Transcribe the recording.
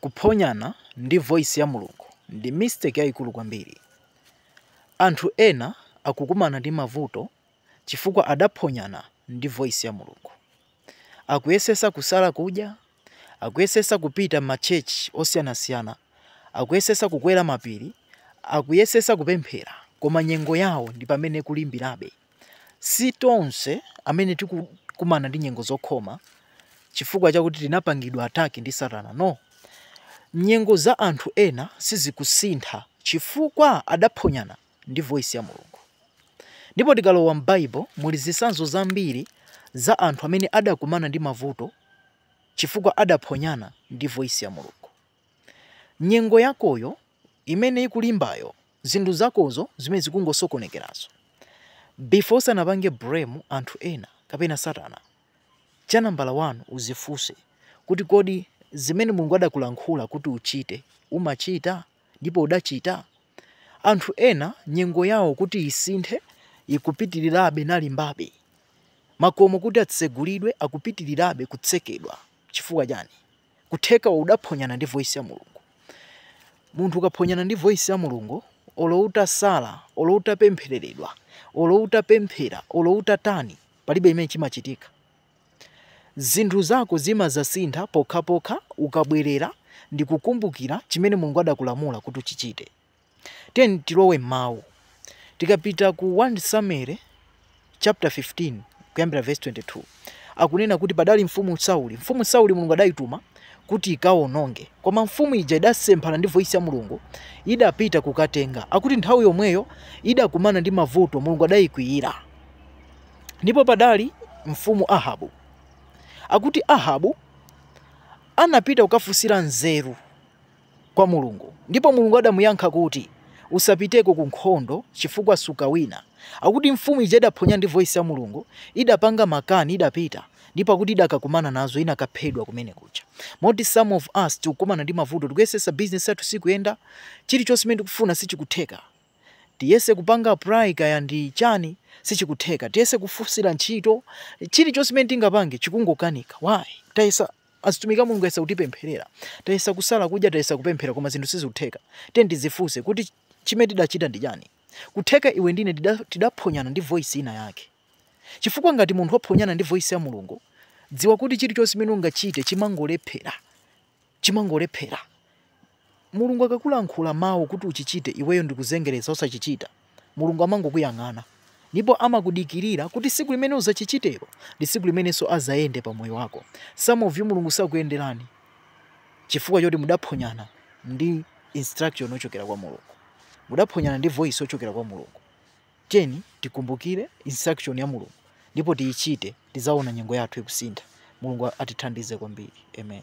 Kuphonyana ndi voice ya Mulungu ndi mistake yaikulu kwambiri. Anthu ena akukumana ndi mavuto chifukwa adaphonyana ndi voice ya Mulungu. Akuyesesa kusala kudya, akuyesesa kupita ma church osiyanasiyana, akuyesesa kukwera mapiri, akuyesesa kupemphera koma nyengo yawo ndipamene ikulimbirabe. Si tonse amene tikukumana ndi nyengo zokhoma chifukwa chakuti tinapangidwa attack ndi Satana, no. Nyengo za anthu ena sizikusintha chifukwa adaphonyana ndi voice ya Mulungu. Ndipo tikalowa m'Bible muli zisanzo zambiri za anthu amene adakumana ndi mavuto chifukwa adaphonyana ndi voice ya Mulungu. Nyengo yakoyo imene ikulimbayo zinthu zakozo zimene zikungosokonekerazo before usanapange blame anthu ena kapena satana cha nambala 1 uzifunse kuti kodi zimene Mulungu adakulankhula kuti uchite umachita? Ndipo udachita? Anthu ena nyengo yawo kuti isinthe ikupitirirabe nalimbabe. Makomo kuti atsegulidwe akupitirirabe kutsekedwa. Chifukwa chani? kutheka udaphonyana ndi voice ya mulungu munthu ukaphonyana ndi voice ya mulungu olo utasala olo utapemphereredwa olo utapemphera olo utatani palibe chimene chimachitika zinthu zako zimazasintha pokhapokha ukabwerera ndikukumbukira chimene mulungu adakulamula kuti uchichite Tiyeni tilowe m'Mawu. Tikapita ku 1 Samueli chapter 15 kuyambira verse 22, akunena kuti padali mfumu Sauli. Mfumu Sauli Mulungu adayituma kuti ikawononge, koma mfumu ija idasemphana ndi voice ya Mulungu, idapita kukatenga. Akuti nthawi yomweyo idakumana ndi mavuto, Mulungu adayikwiyira. Ndipo padali mfumu Ahabu. Akuti Ahabu anapita kukafunsira nzeru. kwa Mulungu, ndipo Mulungu adamuyankha kuti, Usapiteko ku nkhondo, chifukwa sukawina. Akuti mfumu ija idaphonyana ndi voice ya Mulungu, idapanga makani, idapita, ndipo akuti idakakumana nazo, inakaphedwa kumene kuja. Moti some of us tikukumana ndi mavuto, tikuyesesa business yathu sikuyenda, chilichonse chimene tikufuna sichikutheka. Tiyese kupanga apply kaya ndi chani sichikutheka, tiyese kufusila ntchito, chilichonse chimene tingapange chikungokanika. Why? Tayesa. Azitumiki a Mulungu ayesa kutipempherera. Tayesa kusala kudya, tayesa kupemphera koma zinthu sizikutheka. Tiyeni tidzifunse kuti chimene tidachita ndi chani? Kutheka iwe ndi ine tidaphonyana ndi voice ina yake. Chifukwa ngati munthu waphonyana ndi voice ya Mulungu, dziwa kuti chilichonse chimene ungachite chimangolephera. Chimangolephera. Mulungu akakulankhula mau kuti uchichite iweyo ndikuzengereza osachichita, Mulungu amangokuyang'ana ndipo amakudikirira kuti siku limene uzachichitelo ndi siku limenenso azayende pa moyo wako. Some of you Mulungu sakuyendelani chifukwa choti mudaphonyana ndi instruction ochokera kwa Mulungu. Mudaphonyana ndi voice ochokera kwa Mulungu. Tiyeni tikumbukire instruction ya Mulungu ndipo tiyichite tizaona nyengo yathu ikusintha. Mulungu atithandize kwambiri. Amen.